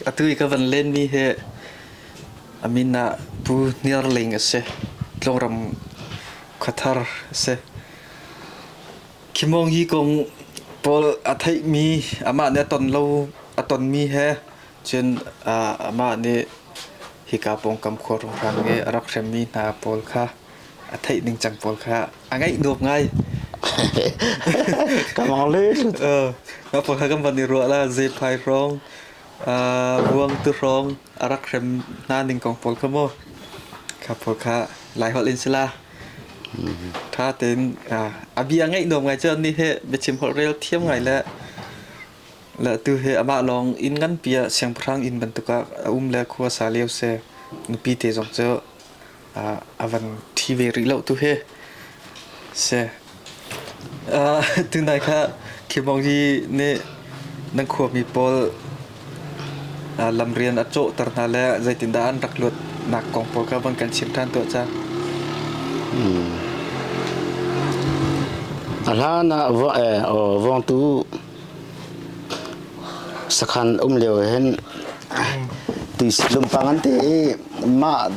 Atu i ka van lenmi hi a min ah Pu Hniar Ling a si. Tlawngram khuathar a si. Khi mawng hi kong pawl a theihmi amah nih a ton lo a tonmi he cun amah nih hika pawngkam khua runghran i a rak hremmi hna pawl kha a theih ning cang pawl kha a ngaih nuam ngai ka lawleh mah pawl kha kan van i ruah la zephai hrawng ruang tu hrawng a rak hrem hna ning kong pawl kha maw kha pawl kha lai holh in sila tha ten a bia ngaih nuam ngai cun ni he biachim holh rel thiam ngai le le tu he amah lawng in ngan pia siangpahrang in bantuk a um le khua sa leo se nupi te zong cu Ah a van thi ve rih lo tu hi si. Ah tunai kha khimong hi nih nan khuami pawl ah lam rian a cawhter hna le zeitindah an rak luat nak kong pawl kha van kan chim ṭhan tuah ca. A hlan ah va eh vawngtu Sakhan um lio ah hin tuisi lumpang an ti i mah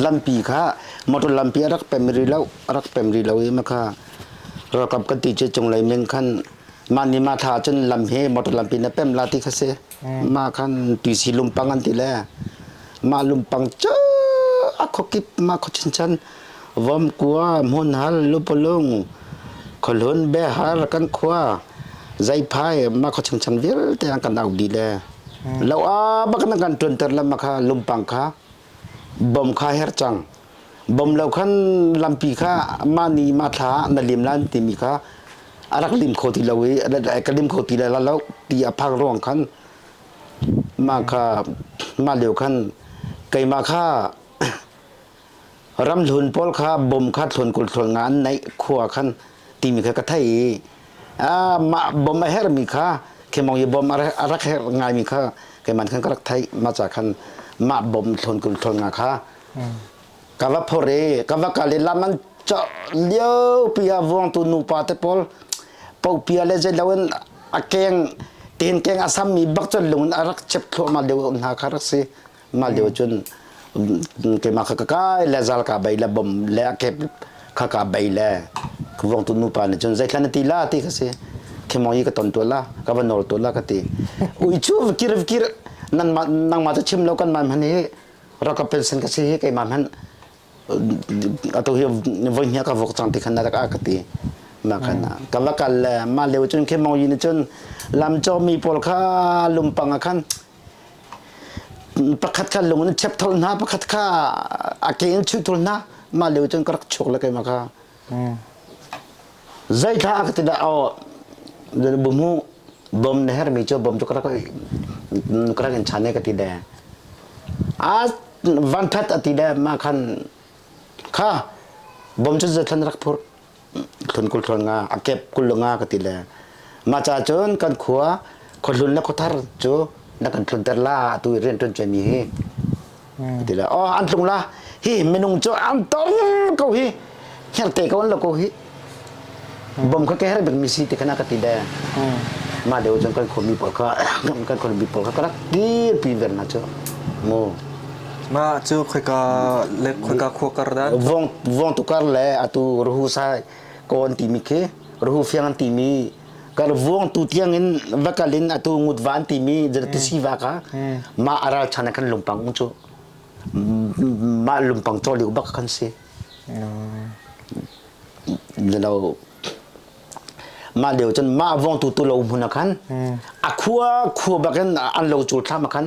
lampi kha motor lampi a rak pem rih lo a rak pem rih lo i makha ralkap kan ti cu cunglei min khan mah ni mah thla ah cun lam hi motor lampi na pem la ti kha si mah khan tuisi lumpang an ti le mah lumpang cu a khuakip mah khua chinchan Vomkua hmunhal lupulung khualun behar kan khua zeiphai makha changchan vialte an kan au dih le lo a bak nan kan ṭuanter lamma kha lumpang kha bom kha her cang bom lo khan lampi kha mah ni mah thla ah na lim lan timi kha a rak lim kho ti lo i ka lim kho ti le la lo ti a phang ruang khan mah kha mah lio khan keimah kha Ramhlun pawl kha bom kha thlawn kul thlawn nga an naih khua khan timi kha ka thei i a mah bom a herhmi kha khemong i bom a rak herh ngaimi kha keiman khan ka rak theih maca khan mah bom thlawn kul thlawn nga kha ka va phor i ka va kal i lam an cawh liopi ah vuangtu nupa te pawl pohpia le zeilo in a keng tenkeng a sammi bak cu lung in a rak chep thluahmah lio hna kha rak si ngal deuh cun keimah kha ka kai le zal ka bei le bom le a kep kha ka bei le ka vuang tu nupa nih cun zeitlan na ti la ti ka si khemong hi ka ton tual la ka va nawl tual la ka ti ui cu va kir va kir nangmah nangmah tu chim lo kan man hman hi rakap pension ka si hi keimah hman atu hi voi hnia ka vok chang ti khan na ka ka ti ma kana ka va kal le ma leu cun khemong yi ni cun lam cho mi pawl kha lumpang a khan pakhat kha lung in chep thol hna pakhat kha a ke in chuh thol hna mah leu cun ka rak chuk le keimah kha zei tha ka ti dah aw bu mu bom na her mi cu bom cu krak krak in chane ka ti de a van phat ati de ma khan kha bom cu zathan rak phur thlun kul thlun nga a kep kul lu nga ka ti le mah ca cun kan khua khuahlun le khuathar cu na kan thlun ter la tu rian tuan cia mi hi ka ti le oh an tlung la hi minung cu an tong ko hi herte ko an lo ko hi bom kha kehre bek mi si te khana ka ti le mah deu cun kan khua mi pawl kha kan khua mi pawl kha ka rak dir pi ver na cu mu Mah cu khoika le khoika khua kar dan? Vong vong tu kar le atu ruhu sai kon timi khi ruhu fiang timi kar vuang tu tiang in vakal in atu ngut van timi zata tisi va ka ma aral chan kan lumpang cu ma lumpang chol liu bak kan si lo ma leo cun ma vong tu tu lo mun khan a khua khua bakin an lo chul thlam khan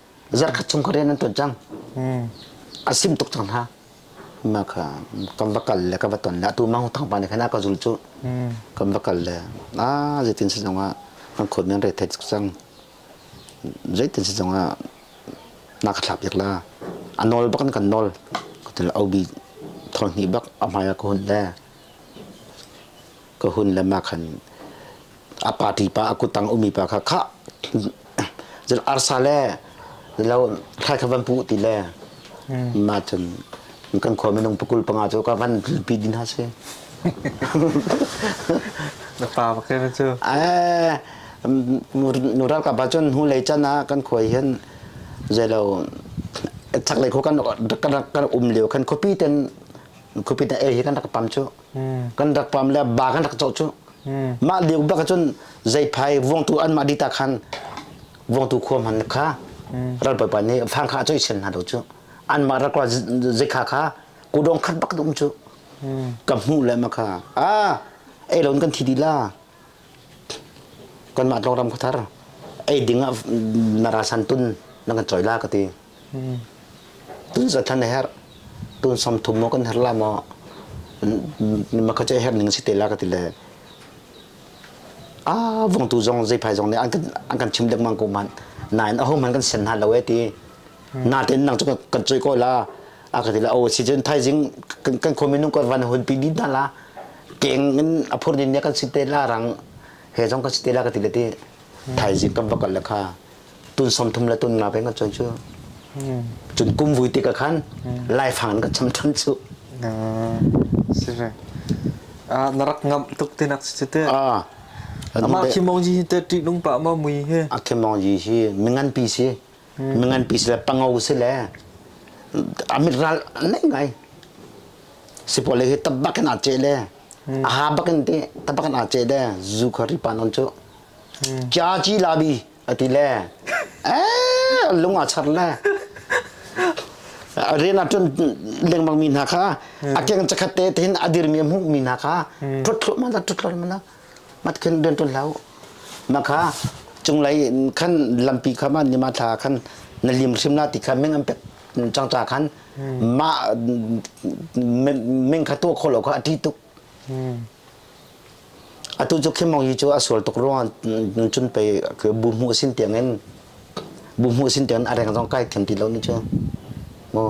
Zarkhat chung ka rian an tuan cang. Hmm. A sim tuk cang hna. Ma ka kan va kal le ka va ton le atu mang thang pa ne khana ka zul chu. Hmm. Kan va kal le a zeitin si zong ah an khot men re thec cang. Zeitin si zong ah na ka thlap la. A nol bakan kan nol. Ka tul au bi thol ni bak a hmai ka hun le. Ka hun le ma khan a party pa a kuttang ummi pa kha khah cun arsa le lo thlai kha van puh ti le ma cun kan khua minung pakul panga cu ka van pi din ha si na pa pakai na cu nu ralkap pa cun hu lei can ah kan khua hin zei lo chak lei kho kan kan um lio kan khuapi ten khuapi ten e hi kan rak pam cu kan rak pam le ba kan rak cawh cu mah lio bak cun zeiphai vuangtu anmah dita khan vuangtu khua man kha ral pa nih fang kha a coi sel hna lo cu anmah rak zekha kha kudong khat bak dum cu ka hmuh le ma kha a ei loin kan thi di la kanmah tawngram khuthar ei ding ah na ralsan tun na kan choi la ka ti tun za than a herh tun som thum maw kan her la maw makhace her ning si te la ka ti le a vong tu zong zei phai zong nih an kan an kan chim dek mang ko man nain a hom han kan sen ha lo e ti na ten nang chu kan choi ko la aka ti la o si jen thaizing kan khuami nung kan van hun pi bi na la keng in aphur ni ne kan si te la rang he jong kan si te la ka ti le ti thaizing kan bakal la kha tun som thum la tun nga pe kan chon chu chun kum vui ti ka khan lai phang ka cham than chu sibe ah narak ngam tuk te nak si te ah ama khimong ji te ti nung pa ma mui he a khimong ji hi mingan pi si nganpi sile pango sile a mit ral an nei ngai sipawle hi tab bak in aa ceh le a ha bak in te tab bak in aa ceh le zu kha ripa non cu kya ci labi ati le eh lung a char le rian ah cun lengmang mi hna kha a keng chakhat te tihin a dirmi a hmuh mi hna kha ṭhut thluah mana ṭhut thluah mana mat khin rian ṭul hlah u. Mah kha cunglei in khan lampi kha ma nima thla ah khan na lim hrim na ti kha ming an pek cangca khan mah ming kha tuah khawh lo kha a ṭih tuk. Atu cu khimong hi cu a sual tuk ruangah cun pei bu hmuh sin tiangin bu hmuh sin tiangin a reng zong kai thlen ti lo ni cu. Maw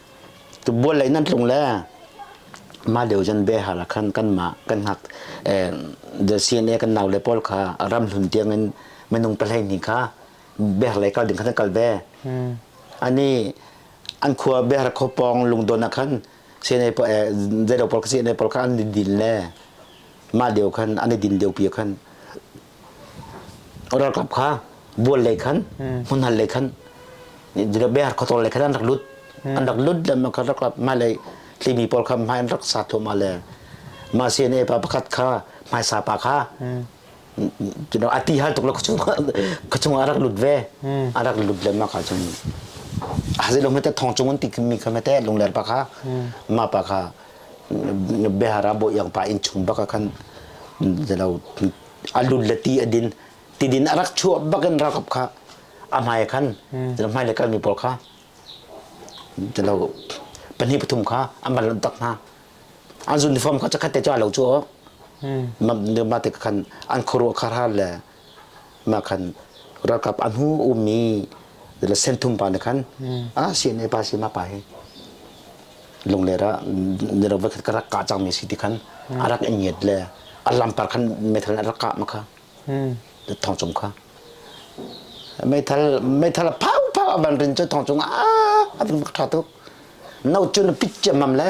Bual lei nan tlung le mah lio zan behar ah khan kanmah kan hnak CNA kan nau le pawl kha ram hlun tiang in minung pahlei hnih kha behar lei kal ding khan an kal ve. Ani an khua behar khaw pawng lungdon ah khan CNA pawl zeidang pawl kha CNA pawl kha an i din le mah lio khan an i din lio pi ah khan Ralkap kha bual lei khan hmunhal lei khan biar khawtawl lei khan an rak lut an rak lut dan kan rak mah lei tlimi pawl kha mah an rak sa thua mah le mah CNA pa pakhat kha mah sa pa kha a ti hal tuk lo kachung a rak lut ve a rak lut le mah ka cun hazi lo mete thong chung an ti mi kha mete lungler pa kha ma pa kha biahar a bawi yang pa inn chung bak ah khan zelo a lun le ti a din ti din a rak chuah bak in rakop kha a hmai khan zelo hmai le kal mi pawl kha zelo pahnih pathum kha an van lunh tak hna an uniform kha cakhat te cu a lo cu ma te khan an khuaruah khar har le na khan ralkap a hnu um mi senthum pa na khan a si ne pa si ma pa hi lungler ah ni ro khat ka rak ka chang mi si ti khan a rak in ngiat le a lampar khan meithal a rak ka ma kha thong cung kha meithal meithal phau phau a van rin chu thong cung a a ving ṭha tuk no chun pit che mam le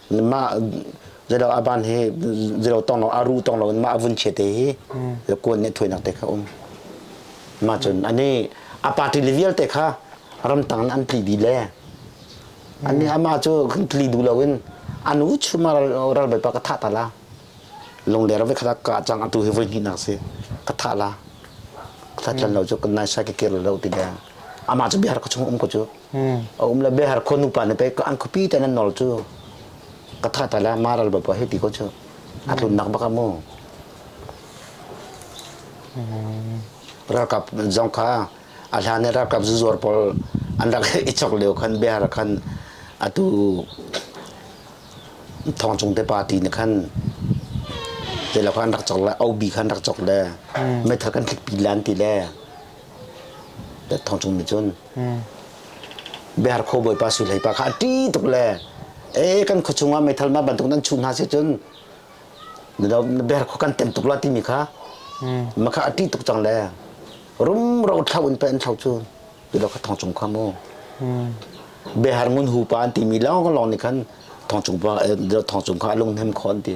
mah zelo aban he zelo tong lo aru tong lo mah vun che te hi kuan ne thuai nak te kha um ma chun ani a party le vial te kha ramtang an tli di le ani ama chu tli du lo in anu chuma ral bai pa ka tha ta la lung der ve kha ka chang atu he voi ni nak se ka tha la ka tlan lo chu kan nai sa ke kir lo ti le ama chu biar ka chung um ko chu a um le be har khon upa ne pe an khupi te nan nol chu ka tha ta la maral ba pa he ti ko chu a tlun nak baka mu ralkap zong kha a hlane ralkap zuzuar pol an rak ichok leo khan behar khan atu thong chung te party ne khan te la khan rak chok le au bi khan rak chok le methal kan thik pi lan ti le thong chung nih cun Bear Khaw Bawipa sui leipa kha a ṭih tuk le ee kan khua chungah meithal ma bantuk nan chuh hna si cun na bear khaw kan tem tuk la timi kha ma kha a ṭih tuk cang le rumro thlau in pei an thlau cu ilo kha thong cung kha mu behar ngun hu pa an timi lawng lawng nih khan thong cung pa thong cung kha a lunghnem kho an ti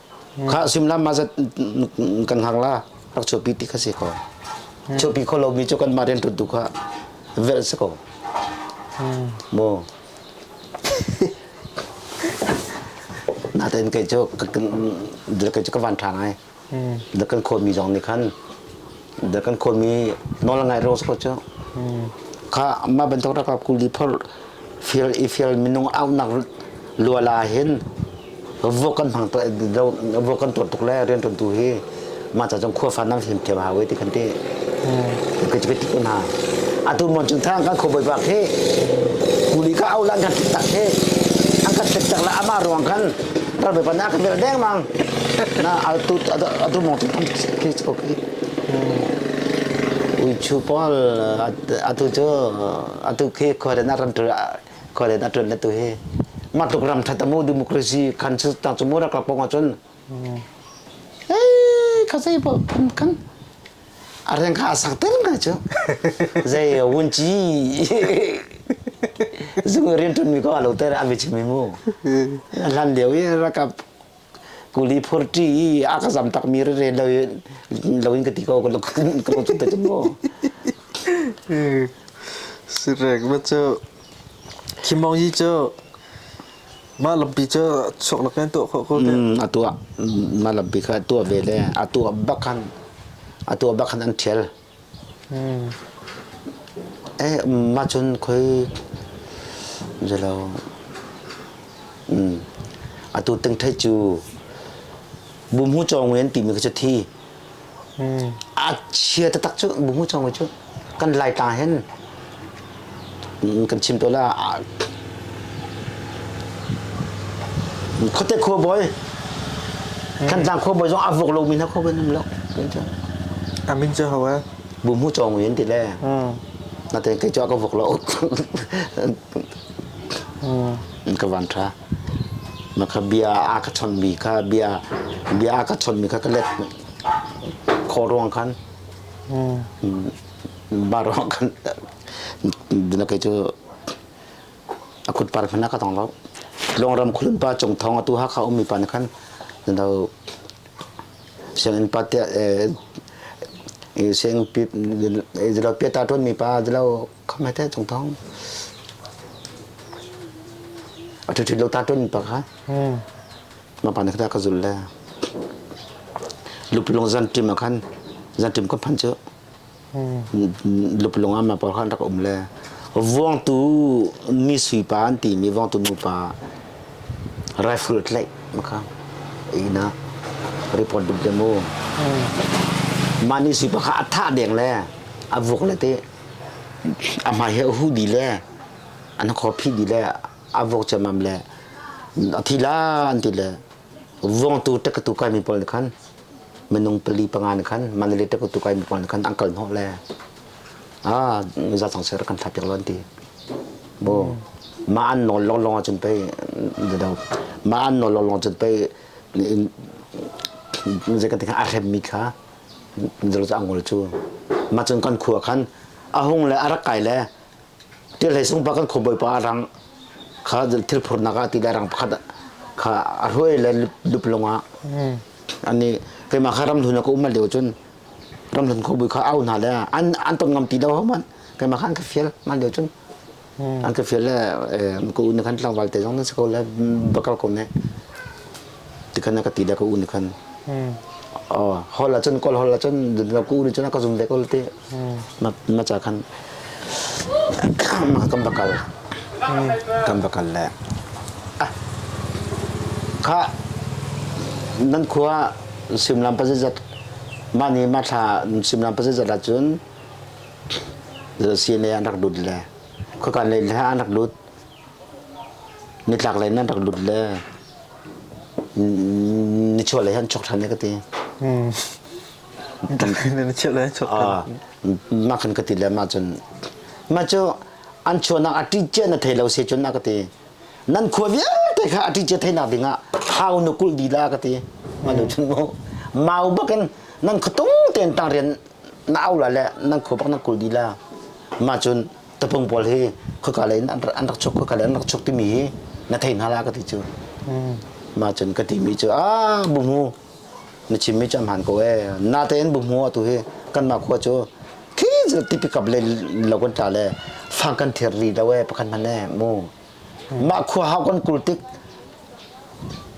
Khah suimlam ma zat kan har la rak chuahpi ti kha si ko. Chuahpi kho lomi cu kan mah rian tu kha velh si ko. Mo. Naten kai cu kai cu ka van ṭhan ai. Da kan khawmi zong nih khan da kan khawl mi nawl ngai ro ko cu kha ma bantuk ra ka kuli phor fial i fial minung au nak luala hin vo kan hmang to vo kan tuar tuk le rian ton tu hi ma cha chong khua fan nam him them ha we ti kan ti ka ti ti na atu mon chung thang kan kho bai bak he kuli ka au lan kan tak he an ka tek tak la ama ruang kan Ralbawi pa na ka vel dengmang na altu adu mong tin thi chuk i ui chu pol atu chu atu khi khore na ran tu khore na tun na tu hi ma tuk ram thata mu democracy kan chu tang chu mu ra ka pong chun eh ka sai po kan Areng kha a sang tel ngai cu. Zei wun ci zung rian ṭun mi ko a lo ter an vi chim mi mu. Hlan lio i rakap kuli phurṭi i a ka zam tak mi rere lo lo in ka ti ko ka lo ka lo te cu mu. Sirek ma cu Khi Mong hi cu Mah lampi cu sok nak in tuah khawh ko teh. Mm, a tuah mah lampi kha a tuah ve le a tuah bak khan a tuah bak khan an ṭhial. Mm. Eh mah cun khoi zelo mm, atu tingṭheih cu bumhu cawng wen timi kha cu thi. A chia taktak cu mumu chawngmi cu kan Laitlang hen kan chim tawn ah khuate khuabawi Thantlang khuabawi zong a vuak lomi hna khuabawi an um lo. Amin cu hau eh. Mumu chawngmi an ti le. Nate kei cu a ka vuak lo. an ka van tha maka bia a ka chon mi kha bia bia a ka chon mi kha ka let kho ruang khan ba ruang khan dina kai chu a kut par khana ka tong lo long ram khulun pa chung thong atu ha kha um mi pa ne khan dau siangin pa te seng pi zelo pe ta ton mi pa zelo khama te tung tong atu ti lo ta ton pa kha ma pa na ka ka zul le lupulung zan tim khan zan tim ko phan chu lupulung ama pa khan rak um le vuang tu mi sui pa an ti mi vuang tu nu pa rifle tlai maka ina report dum te mu mani sui pa kha atha deng le avuk le te A hmai hi a huh dih le an khaw phih dih le a vuak ciammam le a thi la an ti le vuangtu ṭekkatu kaimi pawl nih khan minung pali panga nih khan Mandalay ṭekkatu kaimi pawl nih khan an kal hnawh le a zatang ser kan thlak piak lo an ti bu ma an nawl lawnglawng ahcun pei do ma an nawl lawnglawng ahcun pei zei kan ti a hremmi kha zerza ngol cu ma cun kan khua khan a hung le a rak kai le tihlei sungpa kan khua bawipa a rang kha thil phurnak ah ti le rang pakhat kha a hruai le lup lungah ani keimah kha ramhlun ah ka um lio cun ramhlun khawbui kha au hna le an an ton ngam ti lo hau man keimah khan ka fial man lio cun an ka fial le ka u nih khan tlangval te zong nan si ko le bakal ko ne ti khan ka ti le ka u nih khan hol ah cun kol hol ah cun ka u nih cun a ka zum ve ko ti ma ca khan kan bakal kan bakal le kha nan khua simlam pa zat mah ni ma thla simlam pa zat ah cun Sine an rak lut le khuakan lei le an rak lut nitlak lei in an rak lut le nichuah lei an chuk ṭhan e ka ti. Nichuah lei an chuk ṭhan. Mah khan ka ti le mah cun mah cu an chuahnak a ṭihciah na thei lo se cun a ka ti. Nan khua vialte kha a ṭihciah theinak dingah hau na kulh dih la ka ti. Mah nu cun mu mau bakin nan khuatung tein tang rian na au la le nan khu bak nan kul di la mah cun tapung pawl hi khoka lei in an rak chuk khoka lei an rak chuk timi hi na thei hna la ka ti cu mah cun ka ti mi cu a bumu na chim mi cu am han ko e na tein bumu atu hi kan mah khua cu khi zu tipikap le lo kan tla le fang kan thiar ri lo e pakhat man e mu mah khua hau kan kul tik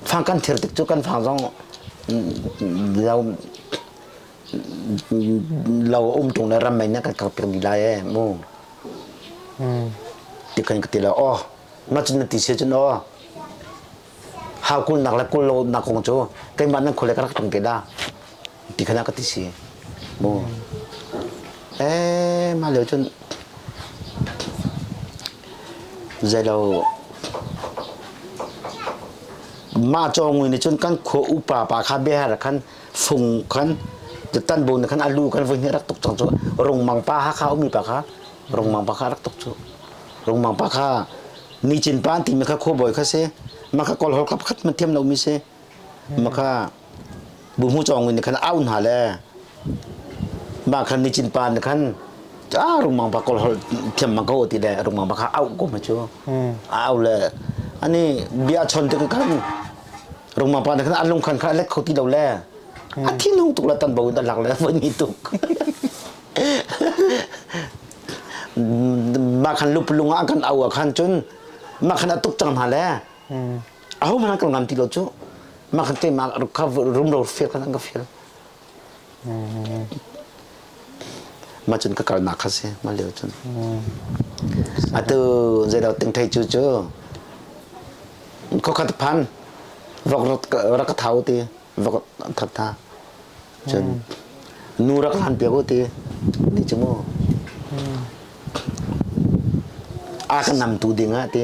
fang kan thiar tik cu kan fang zong lo Lo a um ṭung le ram mei na kan kak piak dih lai ee mu. Ti kan ka ti la aw. Na cun na ti se cun aw. Ha kul nak le kul lo nak kong cu keimah nan khule ka rak tong ke da. Ti khana ka ti si. Mu. Eh ma leo cun zeilo mah cawng ni cun kan khua upa pa kha bia har khan fung khan tan bu khan alu kan voi rak tuk chang chu rungmang pa ha kha umi pa kha rungmang pa kha rak tuk chu rungmang pa kha ni chin pan ti me kha kho boi kha se ma kha kol hol khap khat man thiam lo mi se ma kha bu mu chong ni khan aun ha le ma khan ni chin pan khan a rungmang pa kol hol thiam ma ko ti le rungmang pa kha au ko ma chu au le ani bia chon te kan Rungma pa khan an lungkhan kha lek kho ti lo le a thinhung tuk la tan bo in dan lak le voi ni tuk ma khan lup lung ah kan au khan cun ma khan atuk cang hna le a ho hmana kan ngam ti lo cu ma khan te ma ruk kha rum ro feel khan an ka feel mah cun ka kalnak kha si mah lio cun atu zeidah tingthei cu cu khokhat phan rak ka thau ti rak that ta cun nu rak han piak u ti ni cu mu a kan nam tu ding ah ti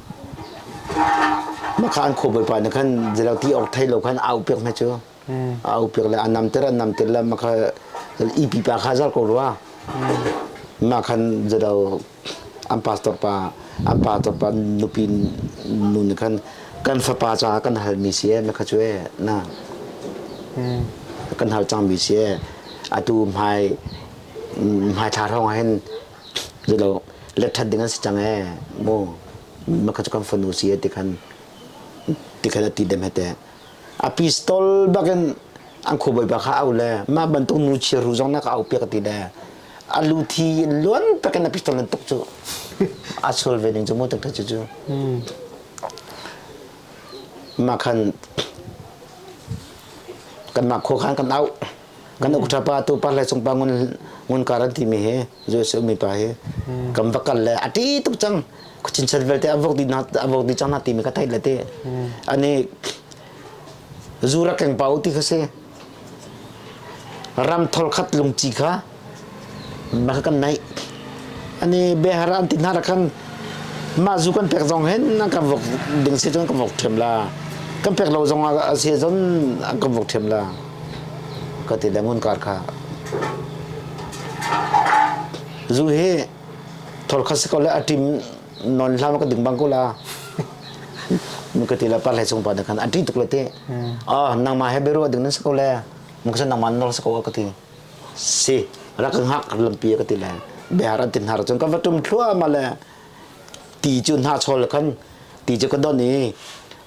Makha an khuh bawipa nih khan zeirauti awk thei lo khan a upiak hna cu a upiak le a namter an namter le makha i pipa kha zar ko rua mah khan zado an pastor pa an pastor pa nupi nu nih khan kan fapa caah kan halmi si ee makha cu ee na kan hal cangmi si ee atu hmai hmai thla hrawng ah hin Zelo lecthat ding an si cang ee. Mu makha cu kan fanu si e ti khan ti khan ati dem hete. A pistol bakin an khu boi bakha au le mah bantuk nu chia ru zong na ka au piak ti de a lu thi in luan takin a pistol nan tuk cu a sual ve ning cu mu tuk cu cu ma khan kan ma kho khan kan au kan ukṭha pa tu par le sung pa ngun ngun kar an timi hi US ummi pa hi kan va kal le a ṭi tuk cang khuchin chan vialte a vok dih na a vok dih cang na timi ka theih le ti ani zura keng pa u ti kha si ram thol khat lungci kha baka kan naih ani behar an ti hna ra khan mah zu kan pek zong hen nan kan vok ding si cun kan vok ṭhem la kan pek lo zong ah a si cun an kan vok ṭhem la ka ti le ngun kar kha zu hi thol kha si ko le a ṭim non hlam ka ding bang ko la mu ka ti la par lai sung pa da khan a ṭi tuk le te ah nang ma he beru ding nan sa ko le mu ka san nang ma nor sa ko ka ti si rak ka hngak lampi ka ti le bear an ti hnar cun ka va tum thluahmah le ti cu hna chol khan ti cu ka don i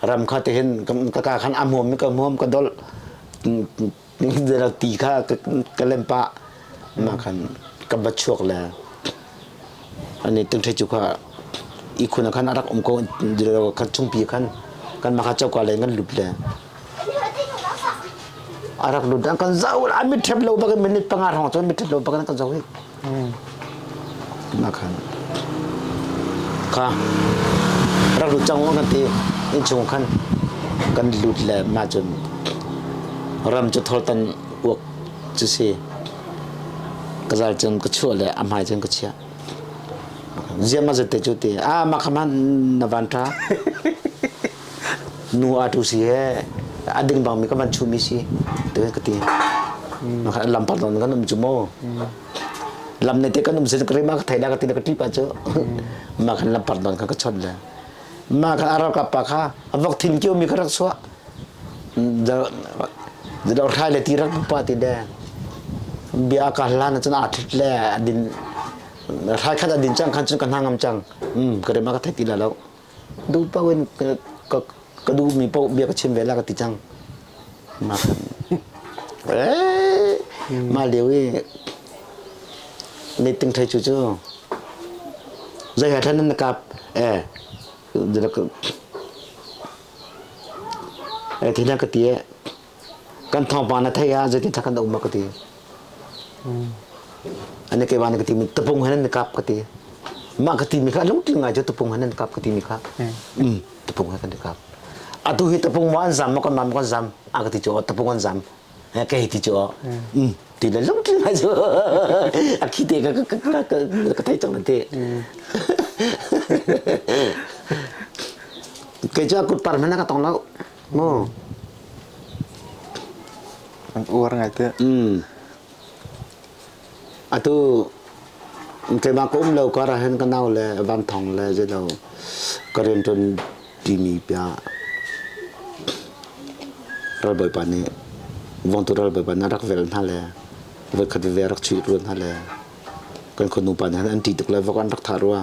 ram kha ti hin ka ka khan a hmuam mi ka hmuam ka dol ti kha ka lem pah ma khan ka va chuak le an i tingṭhi cu kha ihkhun ah khan a rak um ko kha chungpi khan kanmah kha coka lei in kan lut le a rak lut an kan zau a mit ṭhep lo bak in minute panga hrawng cun mit ṭhep lo bak in an kan zau hi khan kha rak lut cang kan ti innchung khan kan lut le mah cun ram cu thortan uak cu si Ka zal cun ka chuah le a hmai cun ka chiah. Ziam a zette cu te a mah kha man na van ṭha nu a tu si he a ding bang mi ka van chumi si te ka ti ma kha lam par don kan um chu mo lam ne te kan um sin ka ri ma ka thai da ka ti na ka ti pa chu ma khan lam par don ka ka chon le Mah kha a ralkap pa kha a vok thing cio mi kha rak chuah. Zado hrai le ti rak pa ti de. Bia ka hlan cun a thit le a din hrai khat a din cang khan cun ka hna ngam cang. Hmm, ka rema ka thei ti la lo. Du pa wen ka ka du mi po bia ka chim ve la ka ti cang. Mah lio i meeting ṭhei cu cu zei he ṭhen an kap ti na ka ti i kan thawngpang na theih ah zeitindah kan um a ka ti. Ane ke van ka ti mi tapung hanan kap ka ti. Mah ka ti mi kha lungtling ngai cu tapung hanan kap ka ti mi kha. Mm, tapung hanan kap. Atu hi tapung ma an zam ma kan man kan zam a ka ti cu tapung an zam. Ke hi ti cu. Mm, ti le lungtling ngai cu. A khi te ka ka ka ka thei chang te. Kei cu kut par hmena ka tong lo. Keimah ka um lo kar ahhin ka nau le Van Thawng le zeilo ka rianṭuan ṭimi bia ralbawipa nih Vawngtu ralbawipa nih a rak vel hna le voikhat veve a rak chuih rua hna le kan khuanu pa nih an ṭih tuk le vok an rak thah rua.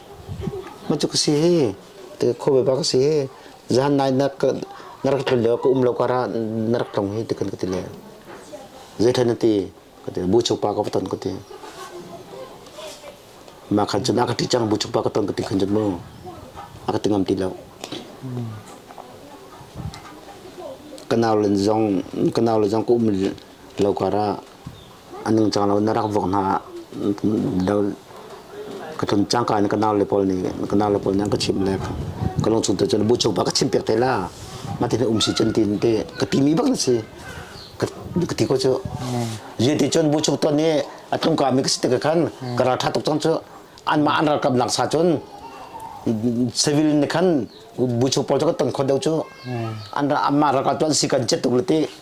Macu ka si hi, ti ka khaw beba ka si hi, zan nai na na rak tlun leo ka um lo kara na rak tlong hi ti kan ka ti le. Zei ṭhen na ti, ka ti bu chukpa ka va ton ka ti. Ma khan cun aka ṭi cang bu chukpa ka ton ka ti khan cun mu. Aka ti ngam ti lo. Kanau le zong kanau le zong ka um Lo kar ah a ningcang lo in na rak vuak hna ah lo ka tlun cangka in ka nau le pawl nih ka nau le pawl nih an ka chimh le ka lung chung cun bu chung pa ka chim piak te la mah ti na um si cun ti te ka ti mi bak na si ka ti ko cu rian ti cun bu chung ton i a tlung ka mi ka si tik ah khan ka ralṭha tuk cang cu an mah an ralkap nak sa cun civil ne khan bu chung pawl cu ka ton khon deuh cu an mah ralkap tu an si kan cet tuk le ti